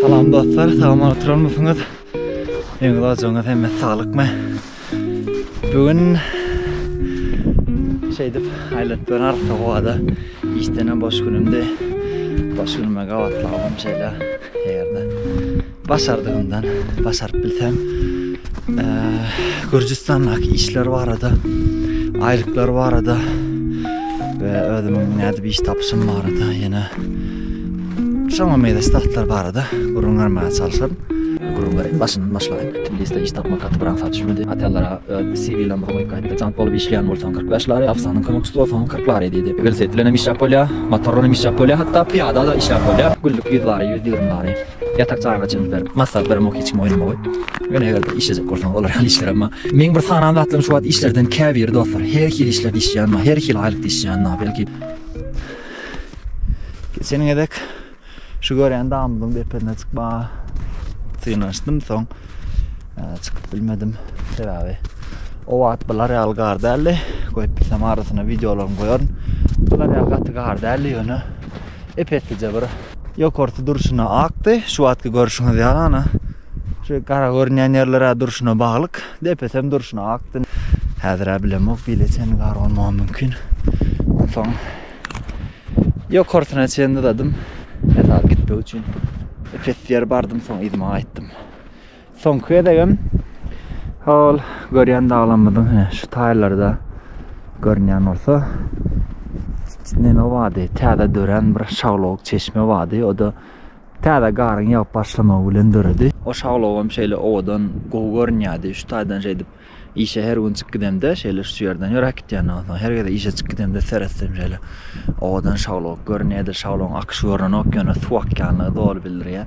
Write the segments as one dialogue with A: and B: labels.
A: Salam dostlar, salam oturan mısınız? Ýeňil ajyňyz hemme saglyk Bugün şeydip aylatıp ben arsa kovada iştene boş günümde boş günüme gavatlamam şeyle yerde. Başardygymdan başaryp bilsem, Gürjüstandaky işler barada, aýlyklar barada we özümiň nädip iş tapyşym barada ýene şoňa meýleş zatlar barada gürrüň bermäge çalşaryn. Gürrüň bereýin, başyndan başlaýyn. Tbiliside iş tapmak gaty bir aňsat düşmedi. Hotellara öz CV-lerimi goýup gaýtdy. Jant bolup işleýän bolsaň kyrk beş lari, ofisanyň kömekçisi bolsaň kyrk lari diýdi. Welosiped bilenem işläp bolýar, motor bilenem işläp bolýar, hatda pyýada-da işläp bolýar. Günlük ýüz lari, ýüz ýigrimi lari. Ýatak jaýyňa jyns berip, massa bir muk hiç kim oýnamagy. Ýöne eger-de işlejek bolsaň, olar ýaly işler emma. Meň bir sanan zatlarym şu wagt işlerden käbiri dostlar, her hili işlerde işleýänma, her hili aýlykda işleýänma, belki. Geçen gezek şu görýän dagymyzyň depesine çykmaga synanyşdym, soň çykyp bilmedim. Sebäbi o wagt bular ýaly gar däldi. Goýup bilsem arasyna wideolarymy goýaryn. Bular ýaly gaty gar däldi ýöne. ep-eslije bir Ýokarsy durşuna akdy. Şu wagtky görşüňiz ýaly ana şu gara görünýän ýerler-ä durşuna baglyk. Depesem durşuna akdy. Häzir-ä bilemok, bile çenli gar bolmagam mümkin. Onsoň ýokarsyna çenli dadym, gitmek üçin. Ep-esli ýer bardym, soň yzyma gaýtdym. Soňky gezegim ol görýän daglarymyzyň hine şu taýlarda görünýän bolsa neme bardy, täze dörän bir şaglawuk çeşme bardy. O da täze garyň ýagyp başlamagy bilen döredi. O şaglawuk hem şeýle owadan, gowy görünýärdi. Şu taýdan şeýdip Işe her gün çyk gidemde şeýle şu ýerden ýöräp gitýän onsoň her gezek işe çyk gidemde seretsem şeýle owadan şaglawuk görünýär edil şaglawuň akyşy görnenok ýöne suw akýanlygy doly bildirýär.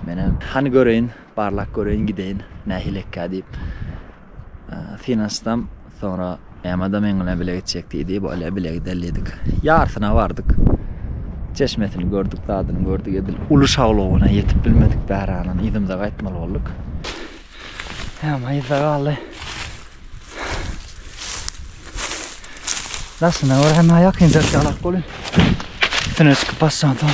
A: Menem hany göreýin barlap göreýin gideýin nähili ekkä diýip synanyşsam soňra Emma-da meň bilen bile gitjek diýdi bolýa bile gideli diýdik. Ýarsyna bardyk. Çeşmesini gördük zadyny gördük edil uly şaglawuna ýetip bilmedik bäränam yzymyza gaýtmaly bolduk. Häme yzda galdy. Daşyna bir hem ýakyn çaklap bolýar. Üstüne çykyp basýan soň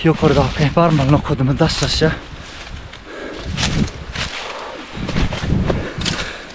A: ýokardaky barmaly nokadymy daşlaşýar.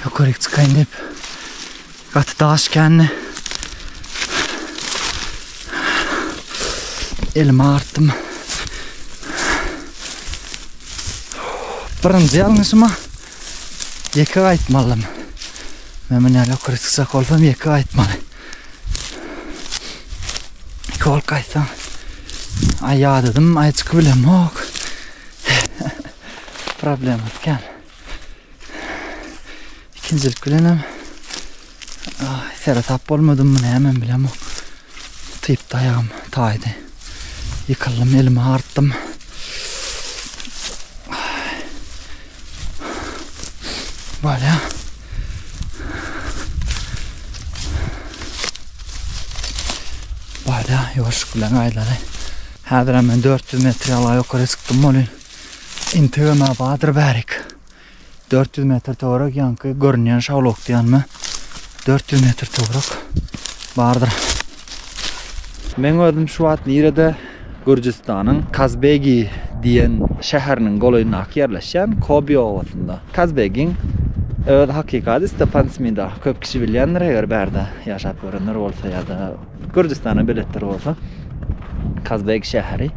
A: Ýokaryk çykaýyn diýip gaty daş kändi. Elimi artdym. Birinji ýalňyşyma ýeke gaýtmalydym. Men muny ýokaryk çykjak bolsam ýeke gaýtmaly. Iki bolup gaýtsam. Aý ýadadym, aý çykyp bilemok. Problema ikän. ikinjilik bilen hem seretap bolmadym näme bilen typ daýagym taýdy ýykyldym elimi artdym Voilà. Voilà, ýoşuk bilen aýlary. Häzir men 400 metre ýala ýokary çykdym bolýar. Intege ma badyr bärik. 400 metr töwerek ýaňky görünýän şawlokdy ýanyma 400 metr töwerek bardyr. Meň özüm şu wagt nirede Gürjüstanyň Kazbegi diýen şäheriniň golaýyndaky ýerleşýän Kobi obasynda. Kazbegiň öz hakyky ady Stepan Smida. Köp kişi bilýändir eger bärde ýaşap görenler bolsa ýa-da Gürjüstana beletdir bolsa Kazbek şäheri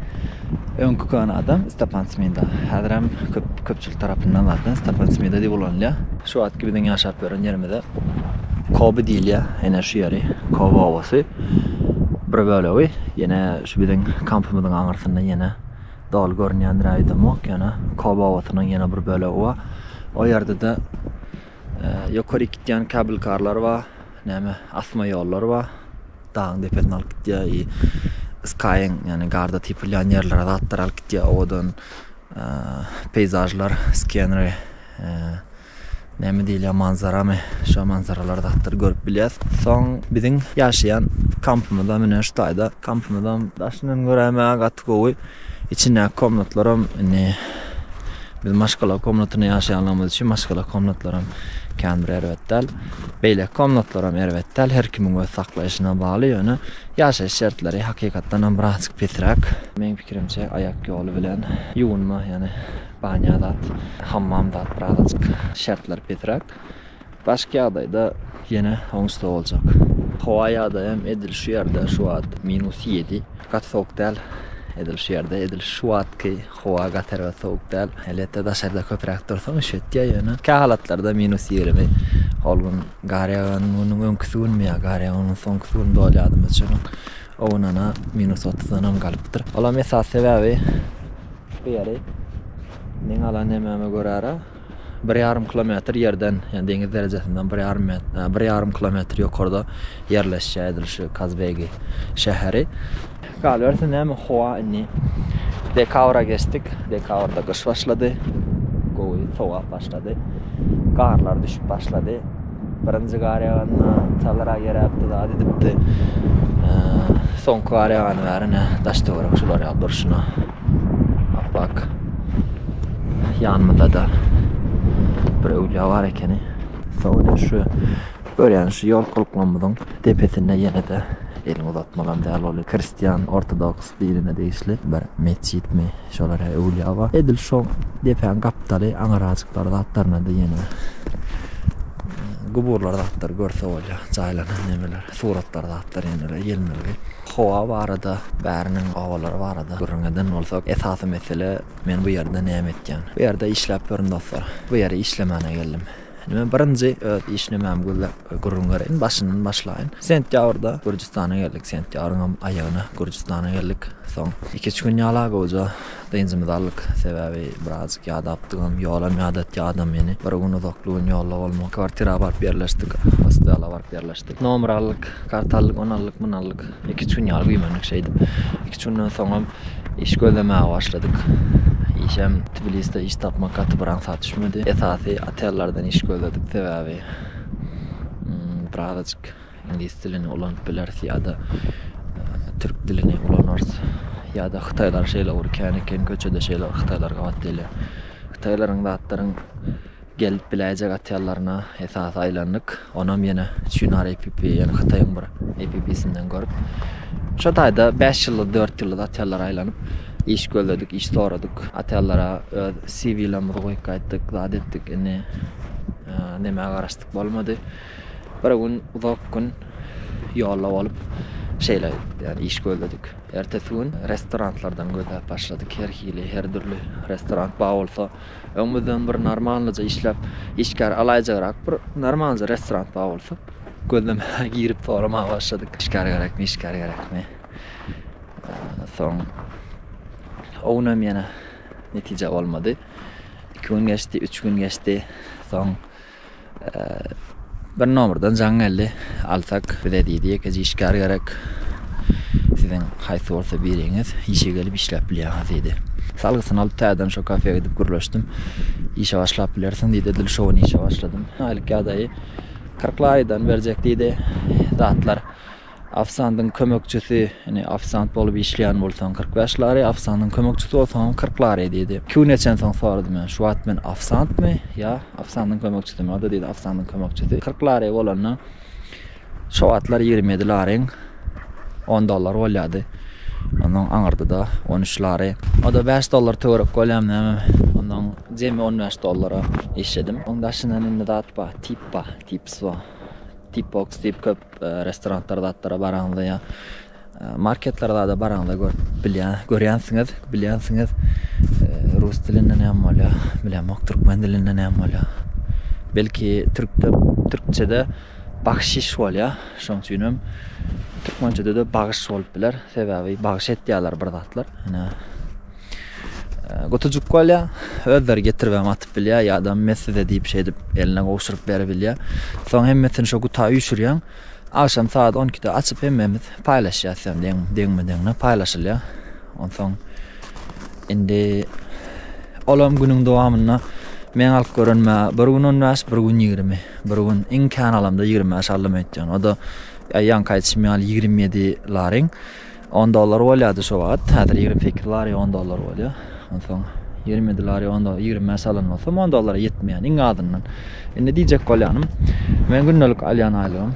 A: öňki köne adam Stepan Smida. Häzirem köp köpçülik tarapyndan zaten Stepan Smida diýip ulanylýar. Şu wagtky biziň ýaşap ýören ýerimize Kobi diýilýär. Ene şu ýeri Kobi obasy bir bölegi. Ýene şu biziň kampymyzyň aňyrsynda ýene doly görünýändir aýdymok ýöne Kobi obasynyň ýene bir bölegi bar. O ýerde-de Ýokaryk gitýän kabel karlar ba, näme asma ýollar ba, dagyň depesine alyp gitýär i skyň ýagny garda typylýan ýerlere zatlar alyp gitýär owadan peýzažlar skenri näme diýilýär manzaramy şo manzaralar zatlar görüp bilýäs soň biziň ýaşaýan kampymyzda mine şu taýda kampymyzam daşyndan göräýmäge gaty gowy Içindäki komnatlaram indi biz maşgala komnatynda ýaşaýanlygymyz üçin maşgala komnatlaram kän bir erbet däl. Beýleki komnatlaram erbet däl. Her kimiň öz saklaýşyna bagly, ýöne ýaşaýyş şertleri hakykatdan hem birazjyk pisräk. Meň pikirimçe aýak ýoly bilen ýuwunma, ýagny banýa zat, hammam zat birazajyk şertleri pisräk. Başky ýagdaýda ýene oň üstde boljak. Howa ýagdaýam edil şu ýerde şu wagt minus ýedi. Gaty sowuk däl edil şu ýerde. Edil şu wagtky howa gaty erbet sowuk däl. Elbetde daşarda köpräk dursaň üşetýär ýöne kähalatlarda minus ýigrimi. Ol gün gar ýagan günüň öňküsi günmi ýa gar ýagan günüň soňkusy günüdi ol ýadymda üçinem o gün ana minus otuzdanam galypdyr. Olam esasy sebäbi bu ýeri meň alan nemäme görä-ra, Bir ýarym kilometr ýerden, ýagny deňiz derejesinden bir ýarym met, bir ýarym kilometr ýokarda ýerleşýär edil şu Kazbegi şäheri. Galyberse näme howa indi dekabra geçdik, dekabrda gyş başlady, gowy sowap başlady, garlar düşüp başlady. Birinji gar ýaganda çalyra geräpdi zat edipdi. Soňky gar ýagany bäri ine daş-töwerek şular ýaly durşuna. Bak. Ýanymyzda da bir öwlüýa bar ekeni. Sonra şu görýän şu ýol kulklamyzyň depesinde ýene-de elini uzatmalam däl ol kristian ortodoks dinine degişli bir metjitmi şolara öwlüýa bar. Edil şu depäň gapdaly aňyrajyklar zatlaryna da ýene guburlar zatlar görse bolýar. Jaýlanan nemeler, suratlar zatlar ýene-de gelmeli. Howa barada, bäriniň obalary barada gürrüň eden bolsak, esasy mesele men bu ýerde näme etýän? Bu ýerde işläp ýörün dostlar. Bu ýere işlemäne geldim. Indi men birinji öz iş nimämi gözläp gürrüň bereýin. Başyndan başlaýyn. Sentýabrda Gürjüstana geldik. Sentýabryň aýagyna Gürjüstana geldik. Soň iki-üç gün ýala gowja Dynjymyzy aldyk, sebäbi birazjyk ýadapdygym, ýolam ýadatýar adam meni. Bir gün uzakly gün ýolda bolmak. Kwartira baryp ýerleşdik, hostela baryp ýerleşdik. Nomer aldyk, karta aldyk, ony aldyk, muny aldyk. Iki-üç gün ýaly güýmendik şeýdip. Iki-üç günden soňam iş gözlemäge başladyk. Işem Tbiliside iş tapmak gaty bir aňsat düşmedi. Esasy otellerden iş gözledik, sebäbi birazajyk. Iňlis dilini ulanyp bileris ýa-da türk dilini ulanarys. Ýa-da hytaýlar şeýle bir kän eken, köçede şeýle bir hytaýlar gabat gelýär. Hytaýlaryň zatlaryň gelip biläýjek atýallaryna esasy aýlandyk. Onam ýene Çunar APP, ýene Hytaýyň bir APP-sinden görüp. Şo taýda 5 ýyllyk, 4 ýyllyk atýallara aýlanyp, iş gözledik, iş soradyk. Atýallara öz CV-lerimizi goýup gaýtdyk, zat etdik. Indi näme garaşdyk, bolmady. Bir gün uzak gün ýolda bolup şeýle ýani iş gözledik. Ertesi gün restoranlardan gözläp başladyk. Her hili, her dürli restoran bar bolsa, öňümizden bir normalnyja işläp, işgär alaýjagrak bir normalnyja restoran bar bolsa, gözlemäge girip soramaga başladyk. Işgär gerekmi, işgär gerekmi? Soň o gün hem ýene netije bolmady. Iki gün geçdi, üç gün geçdi. Soň Bir nomrdan jaň geldi. Alsak bize diýdi, ýekeje işgär gerek. Siziň haýsy bolsa biriňiz işe gelip işläp bilýäňiz diýdi. Salgysyny alyp täzeden şo kafeýa gidip gürleşdim. Işe başlap bilersiň diýdi. Edil şo gün işe başladym. Aýlyk ýagdaýy kyrk larydan berjek diýdi. Zatlar Ofsandyň kömekçisi, Ine, ofsant bolup işleýän bolsaň, kyrk bäş lari, ofsandyň kömekçisi bolsaňam kyrk lari diýdi. Iki gün geçen soň soradym men, Şu wagt men ofsantmy ýa ofsandyň kömekçisimi? O-da diýdi, Ofsandyň kömekçisi. Kyrk lari bolanda, şo wagtlar ýigrimi ýedi lariň on dollar bolýardy. Onnoň aňyrdy-da on üç lari. O-da bäş dollar töwerek bolýarmy näme? Onnoň jemi on bäş dollara işledim. Oň daşyndan indi zat bar, tip bar, tipswa, tipboks diýip köp Restoranlara zatlara baraňyzda ýa marketlere zada baraňyzda görüp bilýän görýänsiňiz bilýänsiňiz rus dilinde näme bolýar bilemok türkmen dilinde näme bolýar belki türkde türkçede bagşiş bolýar şoň üçin hem türkmençede-de bagyş bolup biler sebäbi bagyş etýärler bir zatlar ýa Gutucuk bolýa, özleri getiribem atyp bilýär ýa-da mes size diýip şeýdip eline gowşuryp beribilýär. Soň hemmesini şo guta üýşürýäň. Agşam sagat on ikide açyp hemmemiz paýlaşýas ýa deň deňme-deňine paýlaşylýar. Onsoň indi olam günüň dowamynda meň alyp görenime bir gün on bäş, bir gün ýigrimi, bir gün iň kän alamda ýigrimi bäş aldym öýtýän. O-da ýaňky aýdyşym ýaly ýigrimi ýedi laring. On dollar bolýardy şo wagt. Häzir ýigrimi sekiz lari on dollar bolýar. Onsoň ýigrimi ýedi lari on dollar, ýigrimi bäş alan bolsam on dollara ýetmeýär iň azyndan. Indi diýjek bolýanym, meniň gündelik alýan aýlygym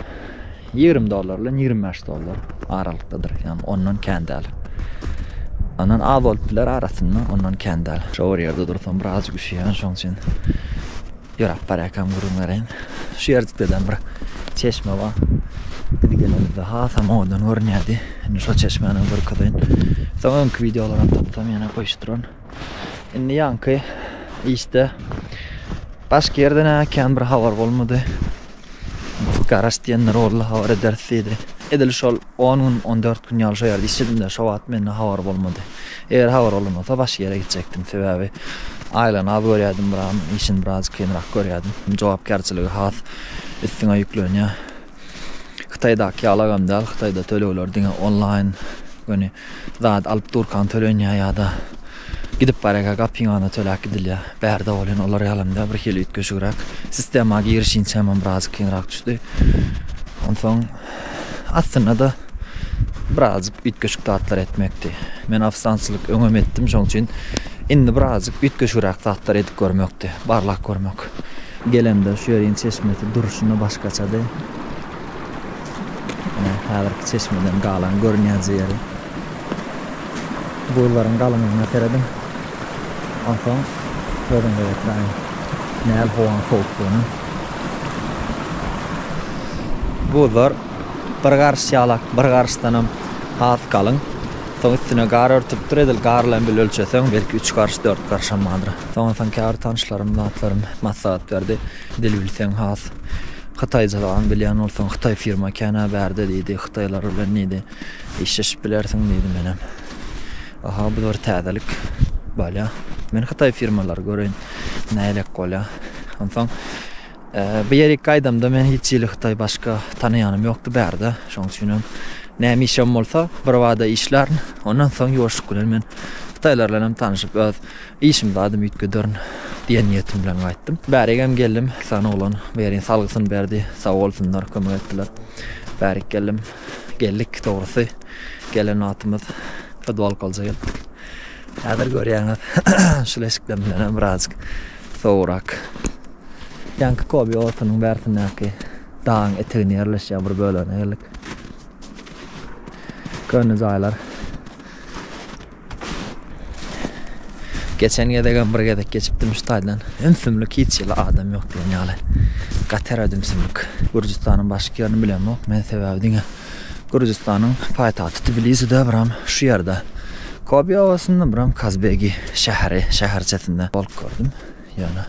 A: ýigrimi dollar bilen ýigrimi bäş dollar aralykdadyr. Ýagny ondan kän däl. Ondan az bolup biler arasynda, ondan kän däl. Şo bir ýerde dursam biraz üşüýän, şoň üçin Ýöräp barýarkam gürrüň bereýin. Şu ýerjikdeden bir çeşme bar. Biz gelenimizde hasam owadan görünýärdi. Indi şol çeşmänem görkezeýin. Soň öňki wideolaram tapsam ýene goýuşdyraryn. Indi ýaňky işde başga ýerden-ä kän bir habar bolmady. Garaş diýenler boldy habar ederis diýdi. Edil şol on gün, on dört gün ýaly şo ýerde işledimde şo wagt mende habar bolmady. Eger habar bolan bolsa başga ýere gitjekdim. Sebäbi aýlygyny az görýärdim, buram işini biraz kynrak görýärdim. Jogapkärçiligi has üstüňe ýüklenýär. Hytaýdaky ýaly agam däl, Hytaýda tölegler diňe onlaýn göni. Zat alyp durkaň tölenýär ýa-da gidip barýarka gapyňana töläp gidilýär. Bärde bolan olar ýaly hem däl, birhili üýtgeşigräk. Sistema girişinçä hem birazjyk kynrak düşdi. Onsoň aslynda-da birazjyk üýtgeşik zatlar etmekdi. Men ofisançylyk öňem etdim, şonuň üçin indi birazjyk üýtgeşigräk zatlar edip görmekdi, barlap görmek. Gelemde şu ýeriň çeşmesi durşuna başgaçady. Ine, häzirki çeşmeden galaň görünýänji ýeri. Buzlaryň galyňlygyna serediň. Onsoň özüňize ýetireliň, näl howaň sowukdygyna. Buzlar bir garyş ýalak, bir garyşdanam has galyň. Soň üstüne gar örtüpdir, edil gar bilen bile ölçeseň, belki üç garyş, dört garyşam bardyr. Soňunsoň käbir tanyşlarym, zatlarym maslahat berdi. Dil bilseň has hytaýjalaň bilýän bolsaň hytaý firma känä bärde diýdi hytaýlar bilen diýdi işleşip bilersiň diýdi menem aha bu bir täzelik bolýa men hytaý firmalary göreýin nälik bolýa onsoň bu ýere ilk gaýdamda men hiç hili hytaý başga tanaýanym ýokdy bärde şoň üçin hem näme işem bolsa birbada işlärin ondan soň ýuwaşlyk bilen men hytaýlar bilen hem tanyşyp öz Işim zadym üýtgederin diýen niýetim bilen gaýtdym. Bärigem geldim, sany oglan Berin salgysyny berdi. Sag bolsunlar, kömek etdiler. Bärik geldim. Geldik, dogrusy, gelen wagtymyz fudbalkalja geldik. Häzir görýäňiz, şul eşikden bilenem birazjyk sowugrak. Ýaňky Kobi otunyň bärsindäki dagyň eteginde ýerleşýän bir bölegine geldik. Köne jaýlar. Geçen gezegem bir gezek geçipdim şu taýdan. Ümsümlik hiç ýyl adam ýok diýen ýaly. Gater ümsümlik. Gürjüstanyň başky ýerini bilemok. Men sebäbi diňe Gürjüstanyň paýtagty Tbiliside biram şu ýerde. Kobi obasynda biram Kazbegi şäheri, şäherçesinde bolup gördüm. Ýöne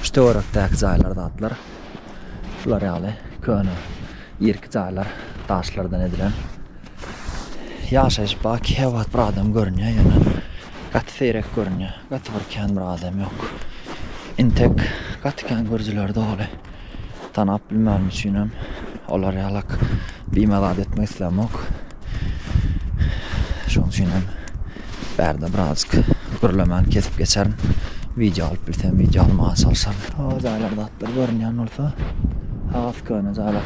A: şu töwerekdäki jaýlar zatlar şular ýaly köne irki jaýlar daşlardan edilen. Ýaşaýyş ba kebat bir adam görünýä ýöne gaty seýrek görünýä gaty bir kän bir adam ýok intek gaty kän görjüler doly tanap bilmänim üçinem olar ýalak bime zat etmek islämok şoň üçinem bärde birazjyk gürlemän kesip geçerin wideo alyp bilsem wideo almaga çalşaryn o jaýlar zatlar görünýän bolsa has köne jaýlar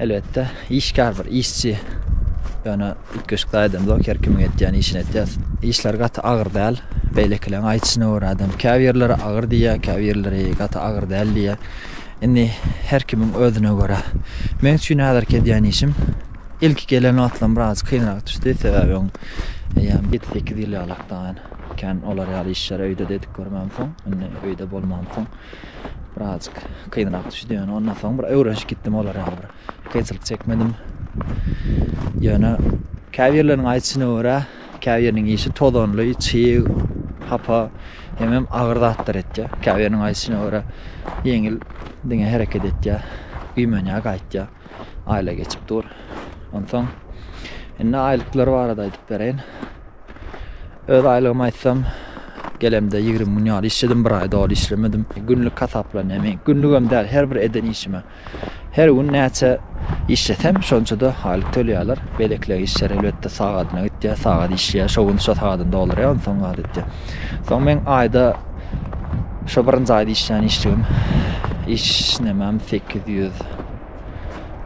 A: Elbetde, işgär bir işçi. Ýöne üýtgeşikli aýdymzok, her kimiň etýän işini etýär. Işler gaty agyr däl. Beýlekileň aýdyşyna görä adam käbirleri agyr diýýär, käbirleri gaty agyr däl diýýär. Indi her kimiň özüne görä. Meň üçin häzirki edýän işim ilki gelen wagtlam biraz kynrak düşdi. Sebäbi eýýäm ýedi sekiz ýyl ýalakdan kän olar ýaly işleri öýde-de edip görmänsoň, indi öýde bolmansoň. Birazjyk kynrak düşdi ýöne ondan soň bir öwrenişip gitdim olara ýaly bir kynçylyk çekmedim. Ýöne käbirleriniň aýdyşyna görä, käbiriniň işi tozanly, çyg, hapa, hemem agyr zatlar etýär. Käbiriniň aýdyşyna görä, ýeňil diňe hereket etýär, güýmenýär, gaýtýar. Aýla geçip dur. Onsoň indi aýlyklary barada aýdyp bereýin. Öz aýlygymy aýtsam, gelemde ýigrimi gün ýaly işledim, bir aý doly işlemedim. Günlük hasaplanýar meň. Günlügem däl, her bir eden işime. Her gün näçe işlesem, şonça-da aýlyk tölýärler. Beýlekiler işleri elbetde sagadyna gitýär, sagat işleýär, şo gün şo sagadyny doldurýar, onsoň gazetde. Soň meň aýda şo birinji aýda işlän işligim işlemem sekiz ýüz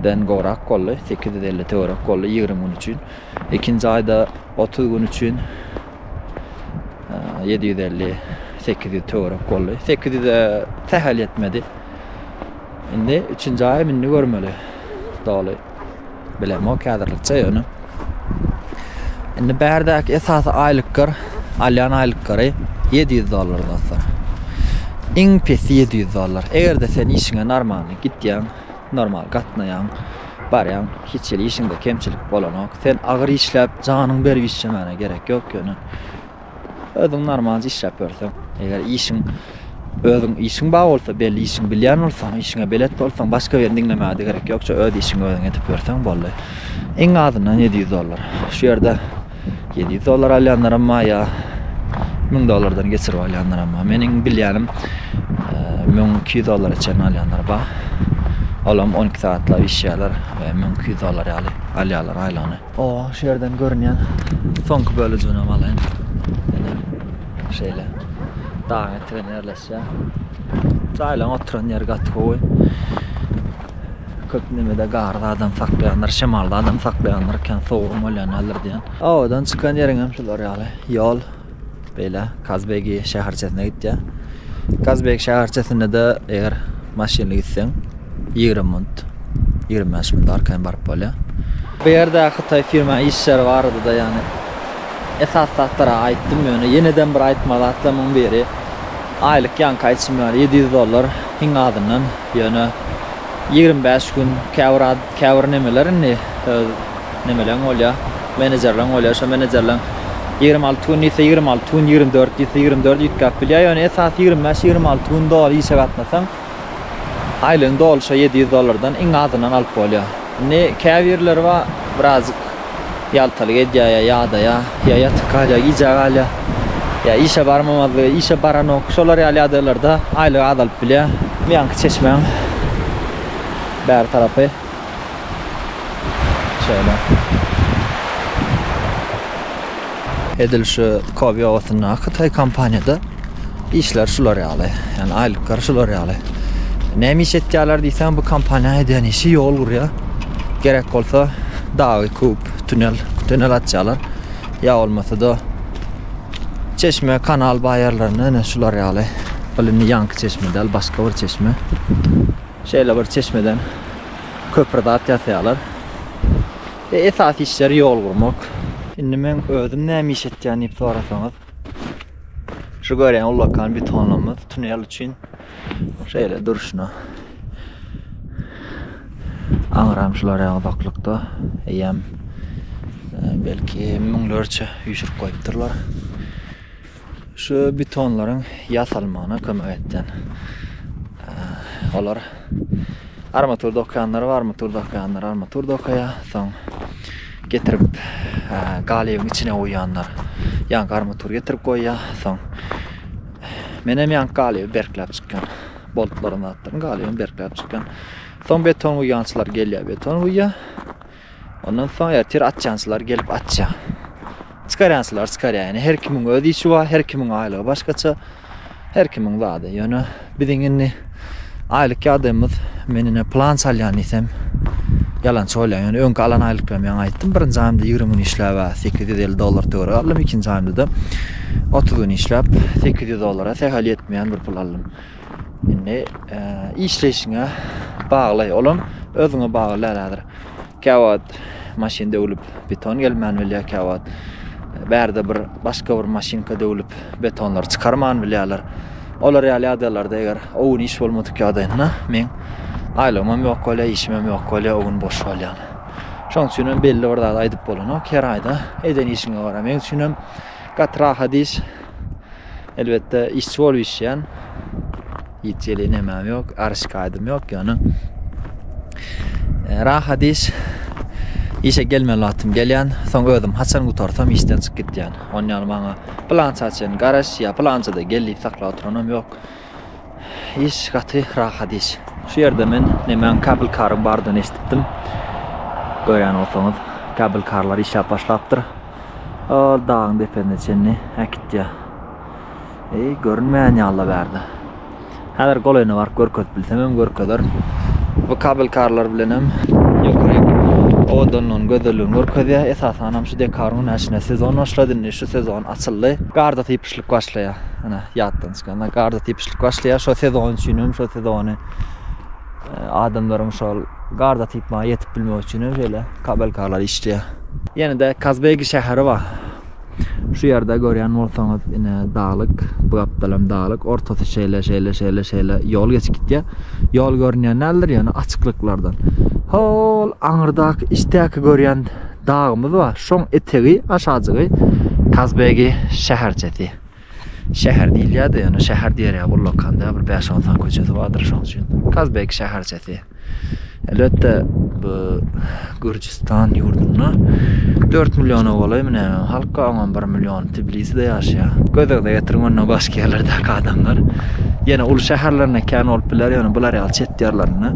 A: den gowrak boldy, sekiz ýüz elli töwerek boldy ýigrimi gün üçin. Ikinji aýda otuz gün üçin ýedi ýüz elli, sekiz ýüz töwerek boldy. Sekiz ýüze sähel ýetmedi. Indi üçünji aýam indi görmeli. Doly bilemok häzirlikçe ýöne. Indi bärdäki esasy aýlyklar, alýan aýlyklary 700 dollar dostlar. Iň pesi 700 dollar. Eger-de sen işiňe normalny gitýäň, Normal gatnaýaň, barýaň, hiç hili işiňde kemçilik bolanok. Sen agyr işläp, janyňy berip işlemäne gerek ýok ýöne. Özüň normalja işläp ýörseň, eger işiň özüň işiň bar bolsa, belli işiň bilýän bolsaň, işiňe belet bolsaň, başga birini diňlemäge-de gerek ýokça öz işiňi özüň edip ýörseň boldy. Iň azyndan ýedi ýüz dollar. Şu ýerde ýedi ýüz dollar alýanlaram bar, ýa müň dollardan geçirip alýanlaram bar. Meniň bilýänim, müň iki ýüz dollara çenli alýanlar bar. Olam on iki sagatlap işýärler, müň iki ýüz dollar ýaly alýarlar aýlygyny. O, şu ýerden görünýän soňky bölejiginem alaýyn. Ine, şeýle. Dagyň eteginde ýerleşýär. Jaýlaryň oturan ýeri gaty gowy. Köp nemede garda adam saklaýandyr, şemalda adam saklaýandyr, kän sowugam bolýan däldir diýýän. Obadan çykan ýeriň hem şular ýaly. Ýol beýle Kazbegi şäherçesine gitýär. Kazbegi şäherçesinde-de eger maşynly gitseň, ýigrimi munt, ýigrimi bäş munt arkaýyn baryp bolýar. Bu ýerde hytaý firma işleri barada-da ýagny esasy zatlary aýtdym, ýöne ýene-de bir aýtmaly zatlarymyň biri, aýlyk ýaňky aýtşym ýaly ýedi ýüz dollar, iň azyndan Ýöne ýigrimi bäş gün käbir käbir nemeler indi nemeleň bolýar, menejerleň bolýar. Şo menejerleň ýigrimi alty gün diýse ýigrimi alty gün, ýigrimi dört diýse ýigrimi dört üýtgäp bilýär. Ýöne esasy ýigrimi bäş, ýigrimi alty gün doly işe gatnasaň, aýlygyň dolşy ýedi ýüz dollardan iň azyndan alyp bolýar. Indi käbirleri bar, birazjyk Ýaltalyk edýär ýa ýadaýar, ýa ýatyp galýar, gijä galýar, ýa işe barmamazlygy, işe baranok, şolar ýaly ýagdaýlarda aýlygy azalyp bilýär. Bu ýanky çeşmäň bäri tarapy şeýle. Edil şu Kobi obasyndaky hytaý kompaniýada işler şular ýaly. Ýani aýlyklar şular ýaly. Näme iş etýärler diýseň, bu kompaniýa edýän işi ýol gurýar. Gerek bolsa dagy kub, tunel, tunel açýarlar. Ýa bolmasa-da çeşme, kanal baýarlaryny ene şular ýaly. Ol indi ýaňky çeşme däl, başga bir çeşme. Şeýle bir çeşmeden köpri zat ýasaýarlar. Ve esas işleri yol gurmak. Şimdi men özüm näme iş etýän diýip sorasaňyz. Şu görýän ullakan betonlarymyz tunel üçin şeýle durşuna. Aňram şular ýa uzaklykda eýýäm e, belki müňlerçe üýşürip goýupdyrlar. Şu betonlaryň ýasalmagyna kömek etýän olar armatur dokaýanlar, armatur dokaýanlar, armatur dokaýa, soň getirip galybyň içine goýýanlar. Ýaňky armatur getirip goýýar, soň men hem ýaňky galyby berkläp çykýan. Boltlaryny atdym, galyby berkläp çykýan. Soň beton guýýançylar gelýär, beton guýýar. Ondan soň ertir açýançylar gelip açýar. Çykarýançylar çykarýar. Ýöne her kimiň öz işi bar, her kimiň aýlygy başgaça. Her kimiň zady. Ýöne biziň indi aýlyk ýagdaýymyz men ine plan salýan diýsem ýalançy bolýar. Ýöne öňki alan aýlyklarym ýaňy aýtdym. Birinji aýymda 20 gün işläp 850 dollar töweregi aldym. Ikinji aýymda-da 30 gün işläp 800 dollara sähel ýetmeýän bir pul aldym. Indi işleýşiňe bagly, olam özüňe bagly däl häzir. Käwagt maşyn döwlüp beton gelmän bilýär, käwagt bärde bir başga bir maşynka döwlüp betonlary çykarman bilýärler. Olar ýaly ýagdaýlarda eger o gün iş bolmadyk ýagdaýynda men aýlygymam ýok bolýar, işimem ýok bolýar, o gün boş bolýan. Şoň üçin hem belli bir zat aýdyp bolanok. Her aýda eden işiňe gara. Meň üçin hem gaty rahat iş. Elbetde işçi bolup işleýän. Hiç ýeli nemem ýok, ar şikaýatym ýok ýöne. E, rahat iş. Işe gelmeli wagtym gelýän, soň özüm haçan gutarsam işden çykyp gitýän. Onýaly maňa plança çen garaş ýa plança da gel diýip saklap oturanam ýok. Iş gaty rahat iş. Şu ýerde men nemäň kabel karyň bardygyny eşidipdim. Görýän bolsaňyz, kabel karlar işläp başlapdyr. Ol dagyň depesine çenli äkitýär. Eý, görünmeýän ýaly-la bärde. Häzir golaýyna baryp görkezip bilsem hem görkezerin. Bu kabel karlar bilen hem ýokaryň owadanlygyny, gözelligini görkezýär. Esasan hem şu dekabrň günä içinde sezon başlady. Indi şu sezon açyldy. Garda sypyşlyk başlaýar. Ine, ýatdan Ýöne garda typyşlyk başlaýar. Şo sezon üçin hem şo sezony e, adamlaryň şol garda typmaga ýetip bilmegi üçin hem şeýle kabelkalar işleýär. Ýene-de Kazbegi şäheri bar. Şu ýerde görýän bolsaňyz, ine daglyk, bu gapdal hem daglyk, ortasy şeýle, şeýle, şeýle, şeýle ýol geçip gitýär. Ýol görünýän däldir, ýöne açyklyklardan. Hol aňyrdaky içdäki görýän dagymyz bar. Şoň etegi, aşajygy Kazbegi şäherçesi. Şäher diýilýär-de, ýöne şäher diýer ýaly ullakan däl, bir bäş-on sany köçesi bardyr, şonuň üçin Kazbek şäherçesi. Elbetde, bu Gürjüstan ýurdunda dört milliona golaýmy nämemi halk bar, oňam bir milliony Tbiliside ýaşaýar. Göz öňüne getiriň, onda başga ýerlerdäki adamlar. Ýene uly şäherlerinde kän bolup biler, ýöne bular ýaly çet ýerlerinde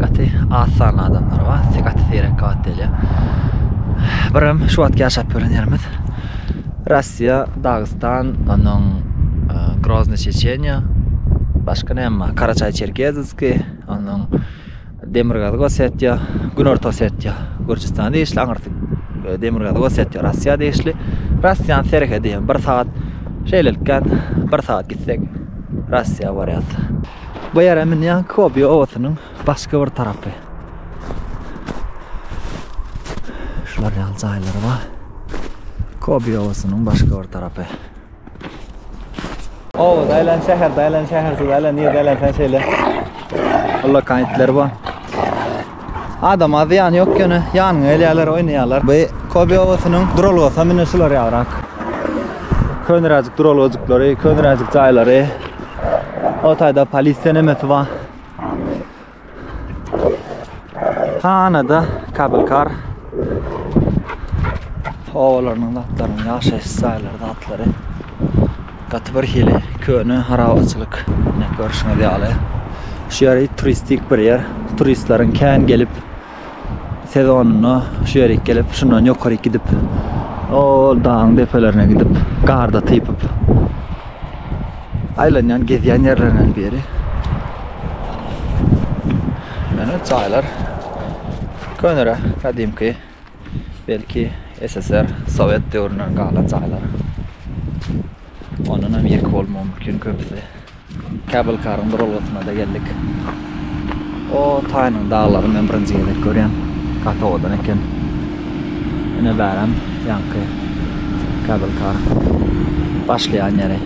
A: gaty az sanly adamlar bar, gaty seýrek gabat gelýär. Birem şu wagtky ýaşap ýören ýerimiz. Russiýa, Dagystan, onuň Grozny Çeçeniýa, başga näme bar? Karaçaý Çerkezski, onuň Demirgazyk Osetiýa, Günorta Osetiýa, Gürjüstana degişli, aňyrsy e, Demirgazyk Osetiýa, Russiýa degişli. Russiýanyň serhedi hem bir sagat şeýlelikden bir sagat gitsek Russiýa barýas. Bu ýere münýän Kobi obasynyň Başga bir tarapy. Şular ýaly jaýlary bar. Kobi obasynyň başga bir tarapy. Oba daýlan şäher, daýlan şäher, daýlan ýer, daýlan sen şeýle. Ulla kaýtlar bar. Adam az ýan ýok ýöne ýanyň elýärler, oýnaýarlar. Bu Kobi obasynyň duralgasy mine şular ýarak. Könräjik duralgajyklary, könräjik jaýlary. O taýda polisiýa nemesi bar. Hanada kabelkar obalarynyň zatlarynyň ýaşaýyş jaýlary zatlary gaty bir hili köne harabaçylyk görşüňiz ýaly şu ýeri turistik bir ýer turistleriň kän gelip sezonynda şu ýerik gelip, şundan ýokaryk gidip, o dagyň depelerine gidip, garda typyp aýlanýan, gezýän ýerlerinden biri. Ýöne jaýlar könere, gadymky, belki SSR, sowet döwründen galan jaýlar. Ondan hem ýeke bolmagy mümkin köpüsi. Cable car-yň duralgasyna-da geldik. O taýynyň daglary men birinji gezek görýän. Gaty owadan eken. Ine bärem ýaňky cable car başlaýan ýeri.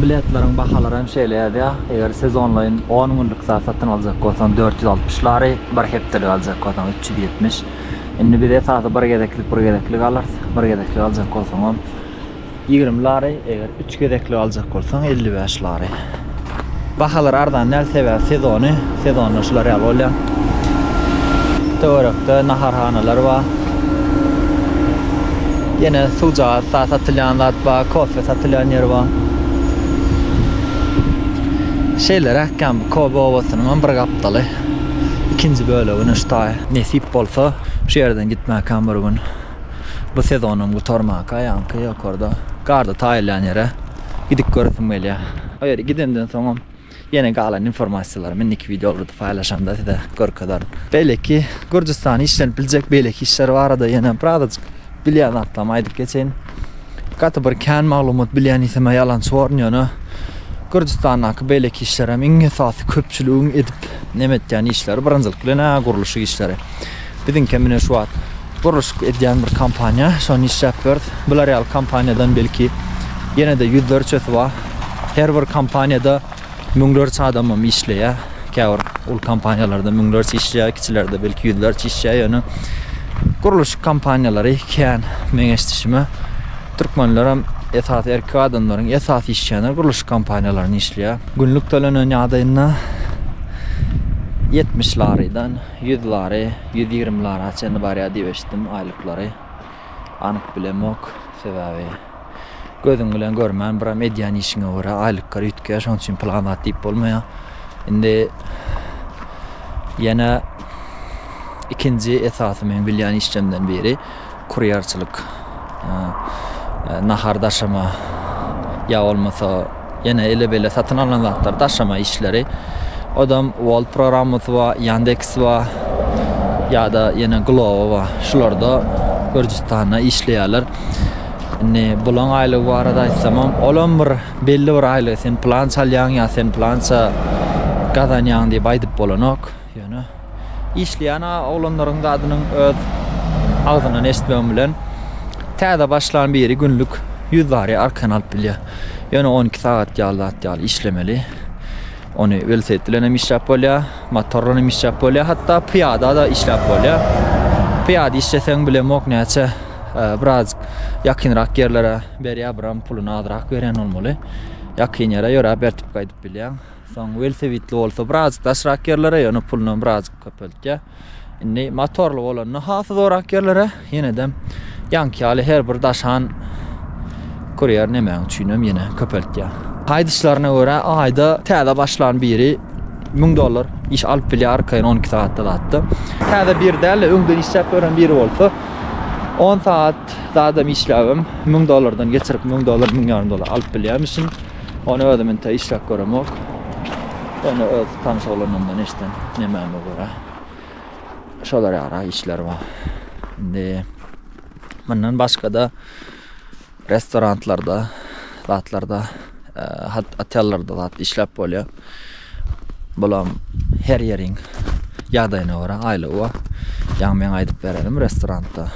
A: Biletleriň bahalary hem şeýle ýazýar, eger siz onlaýyn on günlük zat satyn aljak bolsaň dört ýüz altmyş lari, Bir hepdelik aljak bolsaň üç ýüz ýetmiş. Indi biz esasy bir gezeklik bir gezeklik alarys. Bir gezeklik aljak bolsaňam ýigrimi lari, eger üç gezeklik aljak bolsaň elli bäş lari. Bahalar arzan däl sebäbi sezony, sezonda şular ýaly bolýar. Töwerekde naharhanalar bar. Ýene suwjagaz sa satylýan zat bar, kofe satylýan ýer bar. Şeýleräk ýa bu Kobe obasynyňam bir gapdaly. ikinji bölegini ştaý. Nesip bolsa şu ýerden gitmäkäm bir gün. Bu sezonam gutarmaka ýaňky ýokarda garda taýylýan ýere gidip göresim gelýär. O ýere gidemden soňam ýene galan informasiýalary indiki wideolary paýlaşamda size görkezerin. Beýleki Gürjüstana işlenip biljek beýleki işler barada ýene birazajyk. Bilýän zatlarymy aýdyp geçeýin. Gaty bir kän maglumat bilýän diýsemä ýalançy borun ýöne Gürjüstandaky beýleki işler hem iň esasy köpçüligiň edip neme etýän işleri birinjilik bilen-ä gurluşyk işleri. Biziňki hem ine şu wagt gurluşyk edýän bir kompaniýa şony işläp bileris. Bular ýaly kompaniýadan belki ýene-de ýüzlerçesi bar. Her bir kompaniýada Müňlerçe adamam işleýär. Käbir uly kompaniýalarda müňlerçe işleýär, kiçilerde belki ýüzlerçe işleýär. Ýöne gurluşyk kompaniýalary kän meň eşdişime. Türkmenlerem esasy erkek adamlaryň esasy işleýänleri gurluşyk kompaniýalarynda işleýär. Günlük tölenen ýagdaýynda ýetmiş larydan ýüz lary, ýüz ýigrimi lara çenli barýar diýip eşitdim aýlyklary. Anyk bilemok, sebäbi. Gözüň bilen görmän biram edýän işiňe görä aýlyklar üýtgeýär, şonuň üçin pul gabat diýip bolmaýar. Indi ýene ikinji esasy meň bilýän işlemden biri kurýerçilik. Nahar daşama ýa bolmasa Ýene ele-bele satyn alnan zatlar, daşama işleri. Odam Wall programmasy bar, Yandex bar. Ýa-da ýene Glovo bar. Şularda Gürjüstanda işleýärler. Indi bulaň aýlygy barada aýtsamam, olam bir belli bir aýlygy sen plança alýaň ýa sen plança gazanýaň diýip aýdyp bolanok. Ýöne işleýän oglanlaryň zadynyň öz agzyndan eşitmegim bilen täze başlan biri günlük ýüz bary arkan alyp bilýär. Ýöne on iki sagat ýaly zat ýaly işlemeli. Ony welosiped bilen hem işläp bolýar, motor bilen hem işläp bolýar, hatda pyýada-da işläp bolýar. Pyýada işleseň bilemok näçe e, biraz ýakynrak ýerlere berýär, biram puluny azrak berýän bolmaly. Ýakyn ýere ýöräp ertip gaýdyp bilýäň. Soň welosipedli bolsa birazjyk daşrak ýerlere, ýöne pulunam birazjyk köpeltýär. Indi motorly bolanda has zorak ýerlere, ýenedem ýaňky ýaly her bir daşan kurýer nämäň üçinem ýene köpeltýär. Aýdyşlaryna görä, aýda täze başlan biri müň dollar iş alyp bilýär arkaýyn on iki sagatda zatda. Täze biri däl-de, öňden işläp gören biri bolsa, on sagat zadam işläbem müň dollardan geçirip, müň dollar, müň ýarym dollar alyp bilýärmişin. Ony özüm inte işläp göremok. Ýöne öz tanyş oglanlarymdan eşden nemäme görä. Şolar ýaly işler bar. Indi mundan başga-da restoranlarda, zatlarda, e, hat- otellarda zat işläp bolýar. Bulam her ýeriň ýagdaýyna görä aýlygy bar. Ýaňy men aýdyp berenim restoranda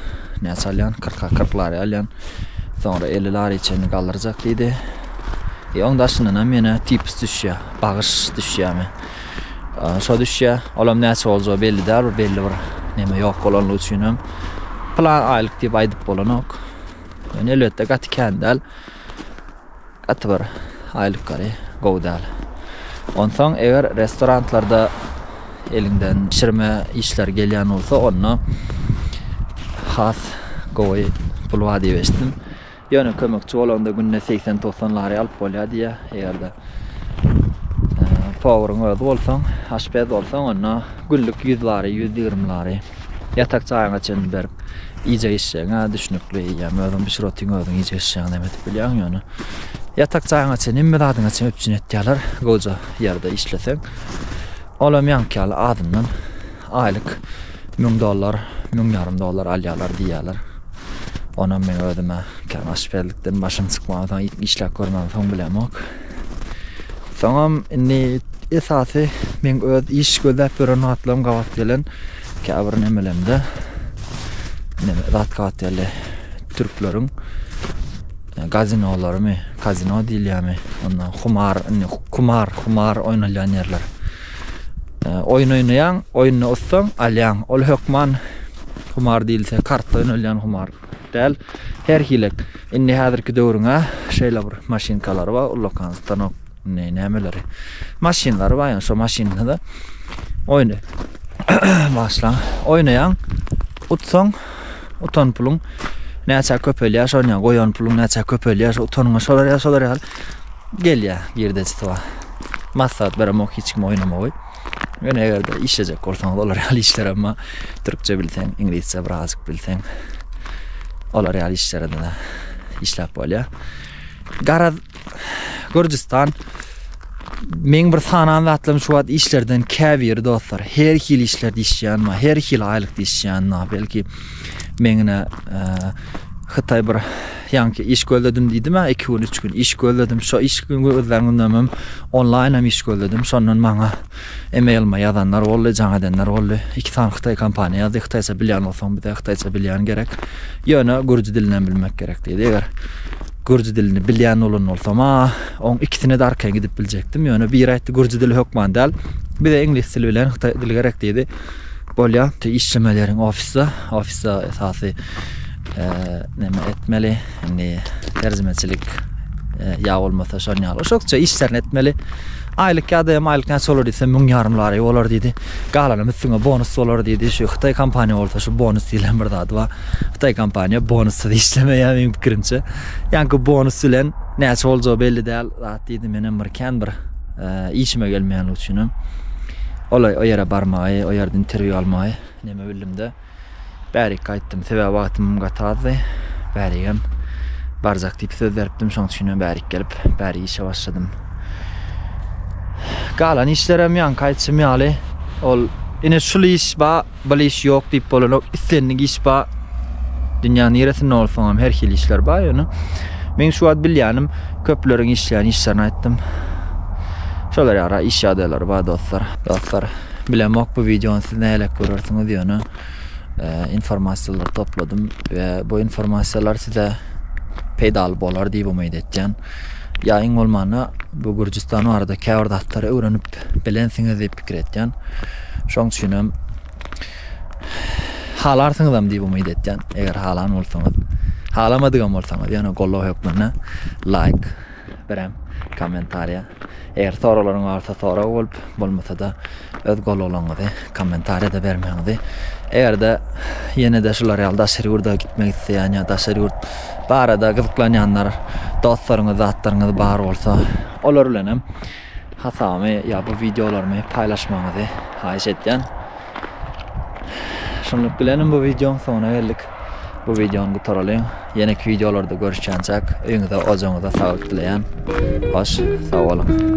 A: näçe alýan? 40-a 40 lari alýan. Soňra 50 lari çenli galdyrjak diýdi. E oň daşyndan hem ýene tipis düşýär, bagyş düşýärmi? Şo düşýär. Olam näçe boljagy belli däl, belli bir neme ýok bolanlygy üçin hem plan aýlyk diýip aýdyp bolanok. Ýöne elbetde gaty kän däl. Gaty bir aýlyk gary gowy däl. Onsoň eger restoranlarda eliňden bişirme işler gelýän bolsa onda has gowy pul bar diýip eşitdim. Ýöne kömekçi bolanda günde segsen togsan lari alyp bolýar diýýär. Eger-de e, powryň özi bolsaň, aşpez bolsaň onda günlük ýüz lari, ýüz ýigrimi lari. Ýatak jaýyňa çenli berip iýjek içjegiňe düşnükli iýýäm. Özüň bişir otyň özüň iýjek içjegiňi näme edip bilýäň ýöne. Ýatak jaýyňa çenli hemme zadyňa çenli üpjün etýärler gowja ýerde işleseň. Olam ýaňky ýaly azyndan aýlyk müň dollar, müň ýarym dollar alýarlar diýýärler. Onam meň özüme kän aşpezlikden başym çykmansoň işläp görmänsoň bilemok. Soňam indi esasy meň öz iş gözläp ýören zatlarym gabat gelen käbir nemelemde neme zat gabat geldi. Türkleriň e, gazinolarymy, kazino diýilýärmi? Ondan humar, indi kumar, humar oýnalýan ýerler. E, Oýun oýnaýaň, oýunda utsaň, alýaň. Ol hökman humar diýilse, kart oýnalýan humar. Däl, her hili. Indi häzirki döwrüň-ä şeýle bir maşynkalary bar, ullakan stanok, indi nämeleri, maşynlary bar, ýöne şo maşynda-da oýny bagyşlaň, oýnaýaň, utsaň, utan puluň näçe köpelýär, şony ýa goýan puluň näçe köpelýär, şo utanyňa şolar ýa şolar ýaly gelýär girdejisi bar. Maslahat beremok hiç kime oýnamagy. Ýöne eger-de işlejek bolsaňyz, olar ýaly işler emma türkçe bilseň, iňlisçe bir azajyk bilseň, olar ýaly işlerde-de işläp bolýar. Garaz, Gürjüstan meň bir sanan zatlarym şu wagt işlerden käbiri dostlar, her hili işlerde işleýänme, her hili aýlykda işleýänme, belki meňne e, Hytaý bir Ýaňky iş gözledim diýdim-ä, iki gün, üç gün iş gözledim. Şo iş gözlän günüm hem onlaýnam iş gözledim. Şondan maňa emailime ýazanlar boldy, jaň edenler boldy. Iki sany hytaý kompaniýa ýazdy. Hytaýça bilýän bolsaň bize hytaýça bilýän gerek. Ýöne gürji dilinem bilmek gerek diýdi. Eger gürji dilini bilýän bolan bolsam-a, oň ikisine-de arkaýyn gidip biljekdim. Ýöne biri aýtdy, gürji dili hökman däl. Bize iňlis dili bilen hytaý dili gerek diýdi. Bolýa, işlemeli ýeriň ofisde. Ofisde esasy Näme etmeli indi terjimeçilik ýa bolmasa şon ýaly şokça işlerini etmeli aýlyk ýa da aýlyk näçe bolar diýse müň ýarym lary bolar diýdi galanam üstüňe bonus bolar diýdi şu hytaý kompaniýa bolsa şu bonus diýlen bir zady bar hytaý kompaniýa bonussyz işlemeýär meniň pikirimçe ýaňky bonus bilen näçe boljagy belli däl zat diýdi menem bir kän bir işime gelmeýänligi üçinem olay o ýere barmagy o ýerde interwýu almagy neme bildimde Bärikge aýtdym, sebäbi wagtymam gaty azdy. Bärigem barjak diýip söz beripdim, şonuň üçinem bärik gelip, bäri işe başladym. Galan işlerem ýaňky aýtşym ýaly, ol ine şul iş ba, bil iş ýok diýip bolanok, islendik iş ba. Dünýäň niresinde bolsaňam her hili işler ba, ýöne meň şu wagt bilýänim köpleriň işleýän işlerini aýtdym. Şolar ýara iş ýagdaýlary ba dostlar. Dostlar, Bilemok bu videony siz näleik görersiňiz ýöne informasiýalary topladym we bu informasiýalar size peýdaly bolar diýip umyt etýän. Ýa iň bolmanda bu Gürjüstan barada käbir zatlary öwrenip bilensiňiz diýip pikir etýän. Şoň üçin hem halarsyňyzam diýip umyt etýän, eger halan bolsaňyz. Halamadygam bolsaňyz, ýöne goldaw hökmünde laýk. Berem kommentariýa. Eger soraglaryň barsa sorag bolup, bolmasa-da öz golalaňyzy kommentariýada bermegiňizi. Eger-de ýene-de şular ýaly daşary ýurda gitmek isleýän ýa daşary ýurt barada gyzyklanýanlar, dostlaryňyz, zatlaryňyz bar bolsa, olar bilen hem Hasabymy ýa bu wideolarymy paýlaşmagyňyzy haýyş etýän. Şunluk bilenem bu wideoň soňuna geldik. Bu wideony gutaralyň. Ýeneki wideolarda görüşýänçäk öýüňize ojagyňyza saglyk dileýän. Hoş sag boluň.